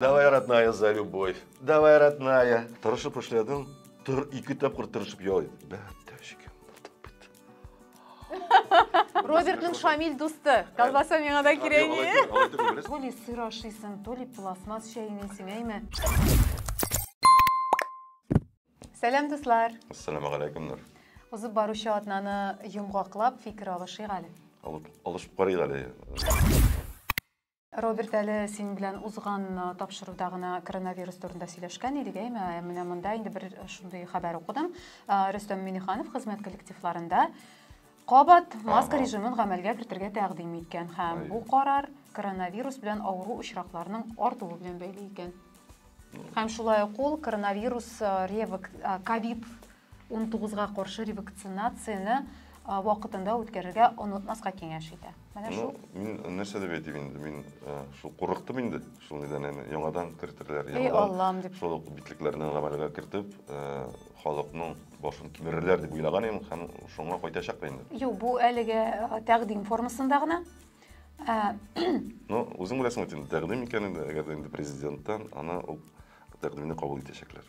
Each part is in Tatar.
Давай, родная, за любовь. Давай, родная. Тырышып эшләдем. Тыр, ике тапкыр тырышып ялый. Бәттәшкә. Робертның Шамиль дусты. Колбаса миңа да кирәк. То ли сыр ашыйсың, то ли пластмасс чәйнисең, әйме? Сәлам, дуслар. Ассаламу алейкум, Нур. Узып баручы атнаны йомгаклап фикер алышыйк әле. Алып, алышып карыйк әле. Роберт, әле синең белән узган тапшыруда гына коронавирус турында сөйләшкән идек, әйме? Менә монда инде бер шундый хәбәр укыдым. Рөстәм Миниханов хезмәт коллективларында кабат маска режимын гамәлгә кертергә тәкъдим иткән һәм бу карар коронавирус белән авыру очракларының артуы белән бәйле икән. Һәм шулай ук ул коронавирус ревак ковид 19 га каршы ревакцинацияне вакытында үткәрергә онытмаска киңәш итә. Менә ну, шул. Мин нәрсә дип әйтим инде, мин э, шул курыктым инде, шул нидән әне, яңадан кертерләр, яңадан дип. шул ук битлекләрне гамәлгә кертеп, э, халыкның башын кимерерләр дип уйлаган идем һәм шуңа кайтачак та инде. Юк, бу әлегә э, тәкъдим формасында гына. Ә... Ну, үзең беләсең бит инде, тәкъдим икәнен дә, әгәр дә инде президенттан, аны ул тәкъдимне кабул итәчәкләр.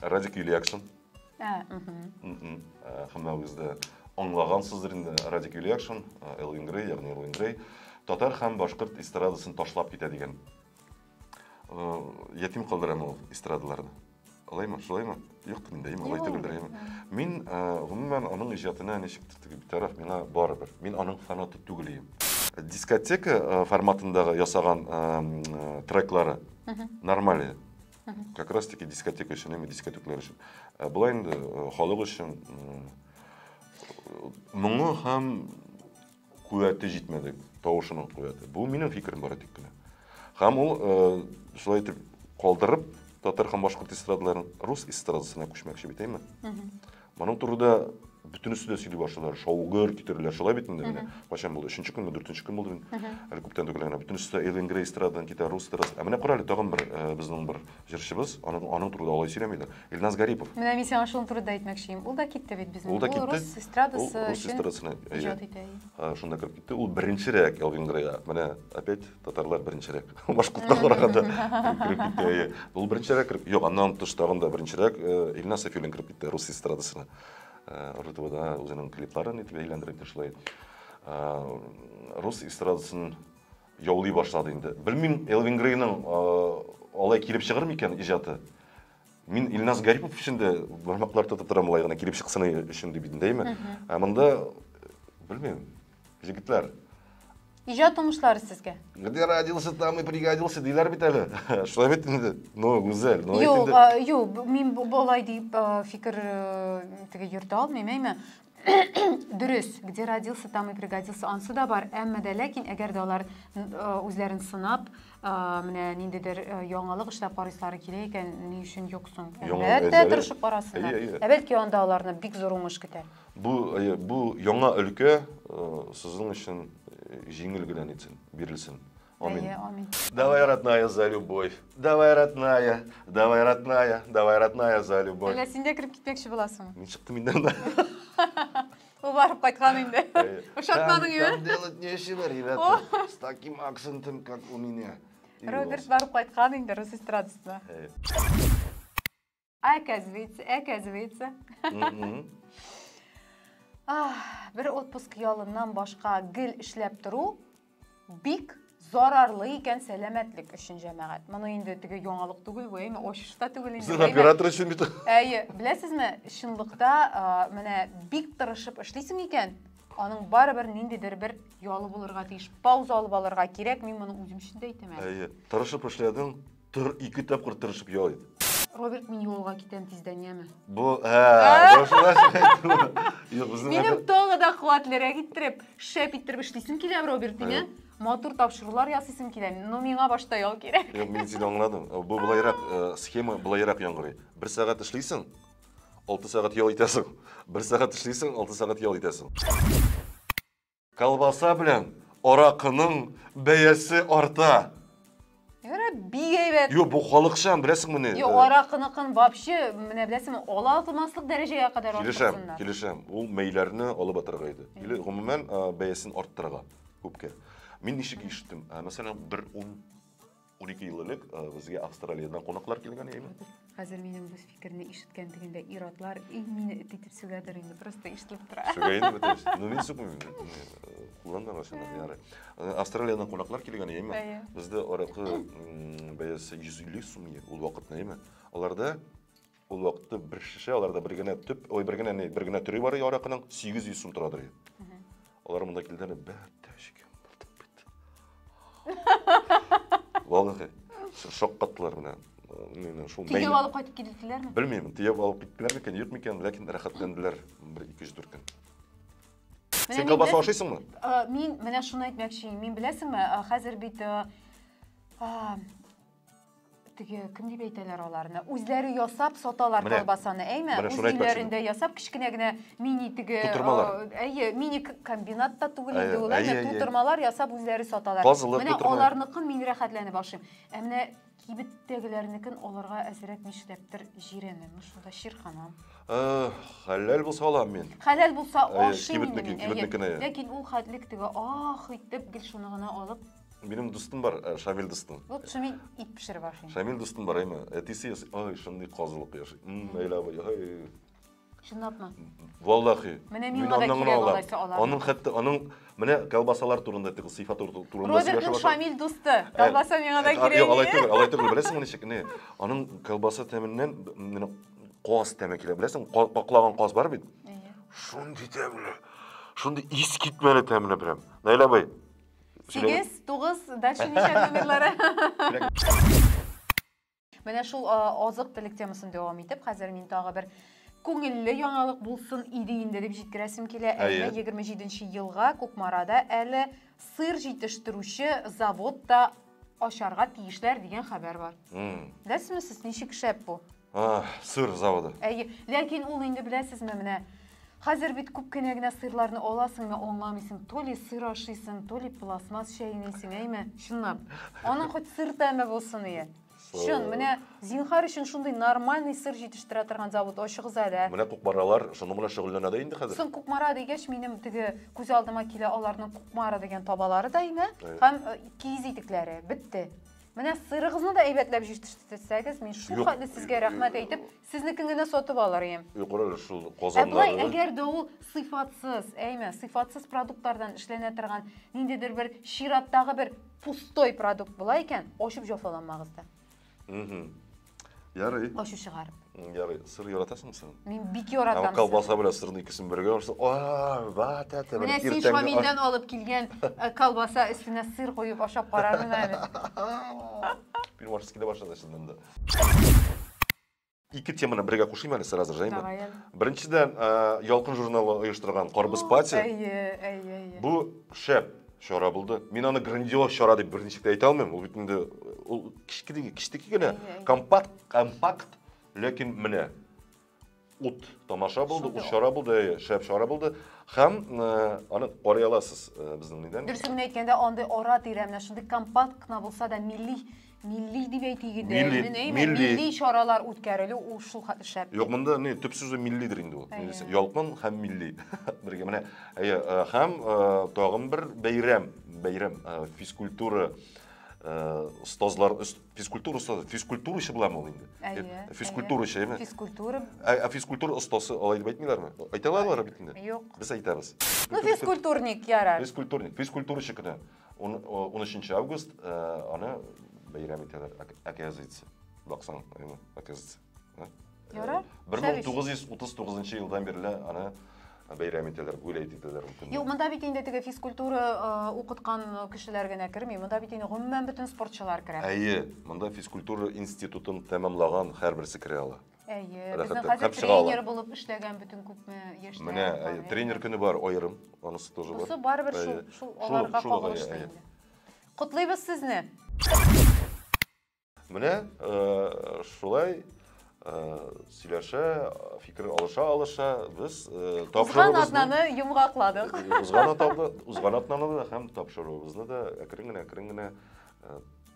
Радик Юлиакшин. Ә, мхм. Хәммәгез дә аңлагансыздыр инде Радик Юлиакшин, Элвин Грей, ягъни Элвин Грей, татар һәм башкорт эстрадасын ташлап китә дигән. Ятим калдырам ул эстрадаларны. Алаймы, шулаймы? Юк, мин дәйм, алай түгел дәйм. Мин гомумән аның иҗатына ничек титтек битараф, миңа барыбер. Мин аның фанаты түгел идем. Дискотека форматындагы ясаган треклары нормаль иде. Как раз таки дискотека өчен, әмма дискотеклар өчен. Ә болай инде э, халык өчен э, моңы һәм куәте җитмәде, тавышының куәте. Бу минем фикерем бары тик кенә. Һәм ул э, шулай итеп калдырып татар һәм башкорт эстрадаларын рус эстрадасына күчмәкче бит, әйме? Моның турыда бөтенесе дә сөйли башлыйлар. Шаугыр китерделәр. Шулай бит инде менә. Качан булды? Өченче көнме, дүртенче көн булды бит. Әле күптән түгел генә. Бөтенесе дә Эллен Грей эстрададан китә, рус эстрадасы. Ә менә карале, тагын бер э, безнең бер җырчыбыз, аның, аның турыда алай сөйләмиләр. Илназ Гарипов. Менә мин сиңа шуның турында әйтмәкче Ул да китте бит безнең. Ул да китте. рус эстрадасы Ул рус эстрадасына, иҗат итә. Э, шунда кереп китте. Ул беренчерәк Элвин Грейга. Менә опять татарлар беренчерәк башкортка караганда кереп китте әйе ул беренчерәк кереп юк аннан тыш тагын да беренчерәк илназ сафиуллин кереп китте рус эстрадасына ртвда үзенең клипларын итеп әйләндереп шулай рус эстрадасын яулый башлады инде белмим элвин грейның алай килеп чыгыр микән иҗаты Мин Илназ Гарипов өчен дә бармаклар тотып торам болай гына килеп чыксын өчен дип идендәйме? Ә монда белмим. Җегетләр. Иҗат уңышлары сезгә. Где родился, там и пригодился диләр бит әле. Шулай бит инде. Ну, гүзәл. Ну, юк, юк, мин болай дип фикер теге йөртә алмыйм, әйме? Дөрес, где родился, там и пригодился ансы да бар, әмма дә ләкин әгәр дә алар э, үзләрен сынап, э, менә ниндидер э, яңалык эшләп карыйсары килә икән, ни өчен юк соң? Әлбәттә, тырышып карасыннар. Ә бәлки анда аларны бик зур уңыш көтә. Бу бу яңа өлкә сезнең өчен җиңел генә нитсен, бирелсен. Амин. Әйе, амин. Давай, родная, за любовь. Давай, родная, давай, родная, давай, родная, за любовь. Әллә син дә кереп китмәкче буласың? Мин чыктым инде анда. Ул барып кайткан инде. Ошатмадың ие? Там делать нечего, ребята. С таким акцентом, как у меня. Роберт барып кайткан инде рус эстрадасына. Оказывается, оказывается. Бер отпуск ялыннан башка гел эшләп тору бик зарарлы икән сәламәтлек өчен җәмәгать. Моны инде теге яңалык түгел, бу әйме ачыш та түгел инде. Сез оператор өчен бит. Әйе, беләсезме, чынлыкта менә бик тырышып эшлисең икән, аның барыбер ниндидер бер ялы булырга тиеш. Пауза алып алырга кирәк, мин моны үзем өчен дә әйтәм әле. Әйе, тырышып эшләдең, Тыр, ике тапкыр тырышып ял ит. Роберт, мин юлга китәм тиздән, яме. Бу, ә, башына Юк, безнең Минем тагы да куатлерәк иттереп, шәп иттереп эшлисем килә, Роберт, дине. Матур тапшырулар ясыйсым килә, но миңа башта ял кирәк. Юк, мин сине аңладым. Э, бу былайрак, э, схема былайрак яңгырый. Бер сәгать эшлисең, алты сәгать ял итәсең. Бер сәгать эшлисең, алты сәгать ял итәсең. Колбаса белән аракының бәясе арта. Яра бик әйбәт. Юк, бу халыкчан, беләсеңме ни? Юк, э, аракыныкын вообще, менә беләсеңме, ала алмаслык дәрәҗәгә кадәр Килешәм, арттырсыннар. килешәм. Ул мәйләрне алып атырга иде. Или гомумән э, бәясен арттырырга күпкә. Мин ничек ишеттем? Э, Мәсәлән, бер ун 12 ел элек э, безгә Австралиядән кунаклар килгән яме. Хәзер минем бу фикерне ишеткән дигәндә иратлар и мине эт итеп сүгәдер инде, просто ишетелеп тора. Сүгәйне бит. Ну мин сүкмим. Кулланма машина яры. Э, Австралиядән кунаклар килгән яме. Бездә аракы бәясе 150 сум ул вакытны яме. Аларда Ул вакытта бер шешә, аларда бер генә төп, ой, бер генә, бер генә төре бар аракының, 800 сум торадыр. Алар монда килдәне бәтәшкә. Валлахи, шаккаттылар менә. Мин шул Тигеп алып кайтып килделәрме? Белмим, тигеп алып киттеләр микән, юк микән, ләкин рәхәтләнделәр бер 200 дүрт көн. Син колбаса ашыйсыңмы? Мин менә шуны әйтмәкче, мин беләсеңме, хәзер бит теге кем дип әйтәләр аларны үзләре ясап саталар Менә. колбасаны әйме Менә үз шуны әйтмәкче өйләрендә ясап кечкенә генә мини теге Тутырмалар. э, әйе мини к- комбинат та түгел Әйе, инде ул әйе, әйе әйе. тутырмалар ясап үзләре саталар Тазылык менә тутырмалар. аларныкын мин рәхәтләнеп ашыйм ә менә кибеттәгеләрнекен алырга әзрәк нишләптер җирәнәм шунда чирканам Э, хәләл булса алам мин хәләл булса Әйе, ашыйм инде кибетнекен, мин әйе кибетнекене, әйе. ләкин ул хәтлек теге ах итеп гел шуны гына алып Минем дустым бар, э, Шамил дустым. Вот Шамил ит пешереп ашый. Шамил дустым бар, әйме. Әтисе ясый, ай, шундый казылык яши. Әйләп, ай. Чынлапмы? Валлахи. Менә мин аңа да кирәк алачы алам. Аның хәтта аның менә колбасалар турында тик сыйфат турында сөйләшә. Робертның Шамил дусты. Колбаса миңа да кирәк. Юк, алай түгел, алай түгел. Беләсеңме ничек? Не, аның колбаса тәменнән менә каз тәме килә. Беләсең, каклаган каз бар бит. Шундый тәмле. Шундый ис китмәле тәмле прям. Наилә бай, Сигез, тугыз, дальше ничә номерлары? Менә шул азык телек темасын дәвам итеп, хәзер мин тагы бер күңелле яңалык булсын иде инде дип җиткерәсем килә. Әйе. 27 елга Кукмарада әле сыр җитештерүче завод та ачарга тиешләр дигән хәбәр бар. Беләсезме сез, ничек шәп бу? Сыр заводы. Әйе, ләкин ул инде беләсезме, менә хәзер бит күп кенә генә сырларны аласың да аңламыйсың, то ли сыр ашыйсың, то ли пластмасс чәйнисең, әйме? Чынлап. Аның хоть сыр тәме булсын, ие. Чын, менә зинхар өчен шундый нормальный сыр җитештерә торган завод ачыгыз әле. Менә Кукмаралар шуның белән шөгыльләнә дә инде хәзер. Соң Кукмара дигәч, минем теге күз алдыма килә аларның Кукмара дигән табалары да име, һәм киез итекләре. Бетте. Менә сырыгызны да әйбәтләп җитештерсәгез, мин шул Юк. хәтле сезгә рәхмәт әйтеп, сезнекен генә сатып алыр идем. Юкры шул Ә болай, Казаннарны. әгәр дә ул сыйфатсыз, әйме, сыйфатсыз продуктлардан эшләнә торган ниндидер бер чираттагы бер пустой продукт була икән, ачып җафаланмагыз да. Мгм. Ярый. Ачу чыгарып. Ярый, сыр яратасың син? Мин бик яратам. Ә колбаса белән сырны икесен бергә ашаса, а, ват әтә. Менә син Шамилдән алып килгән э, колбаса өстенә сыр куеп ашап карармын әле. Пирмашскида башлады сезнең дә. Ике теманы бергә кушыйм әле сразу же, әйме? Беренчедән, э, Ялкын журналы оештырган Карбыз пати. Әйе, әйе, әйе. Бу шәп чара булды. Мин аны грандиоз чара дип берничә дә әйтә алмыйм. Ул бит инде ул кичкеде, кичтеки генә компакт, компакт, ләкин менә ут тамаша булды, ут чара булды, әйе, шәп чара булды. Һәм э, аны карый аласыз э, безнең нидән. Дөресен генә әйткәндә, андый ара-тирә менә шундый компакт кына булса да милли Милли дип әйтик инде. Милли, Мин әймен, милли. милли чаралар үткәрелү ул шул ха- шәп. Юк, монда не, төп сүзе миллидер инде ул. Әйе. Милли- Ялкын һәм милли. Бергә менә. Әйе, э, һәм э, тагын бер бәйрәм, бәйрәм э, физкультура э, остазлар, өс- физкультура остазы, физкультурачы буламы ул инде? Әйе, Э, Физкультурачы, әйе. әйме? Физкультура. Ә, ә физкультура остасы алай дип әйтмиләрме? Әйтә алалар бит инде. Юк. Без әйтәбез. Ну, физкультурник ярар. Физкультурник, физкультурачы көне. 13 август э, аны бәйрәм итәләр, оказывается. Баксаң, әйме, оказывается. Ярар. 1939 елдан бирле аны бәйрәм итәләр, гуләйт итәләр ул көнне. Юк, монда бит инде теге физкультура э, укыткан кешеләр генә керми, монда бит инде гомумән бөтен спортчылар керә. Әйе, монда физкультура институтын тәмамлаган һәрберсе керә ала. Әйе, безнең хәзер тренер булып эшләгән бөтен күпме яшьтә. Менә тренер көне бар аерым, анысы тоже бар. Бусы барыбер шул шул аларга кагылышлы инде. Котлыйбыз сезне. Менә шулай сөйләшә, фикер алыша-алыша без тапшыруыбызны... Узган атнаны йомгакладык. Узган атнаны һәм тапшыруыбызны да әкрен генә, әкрен генә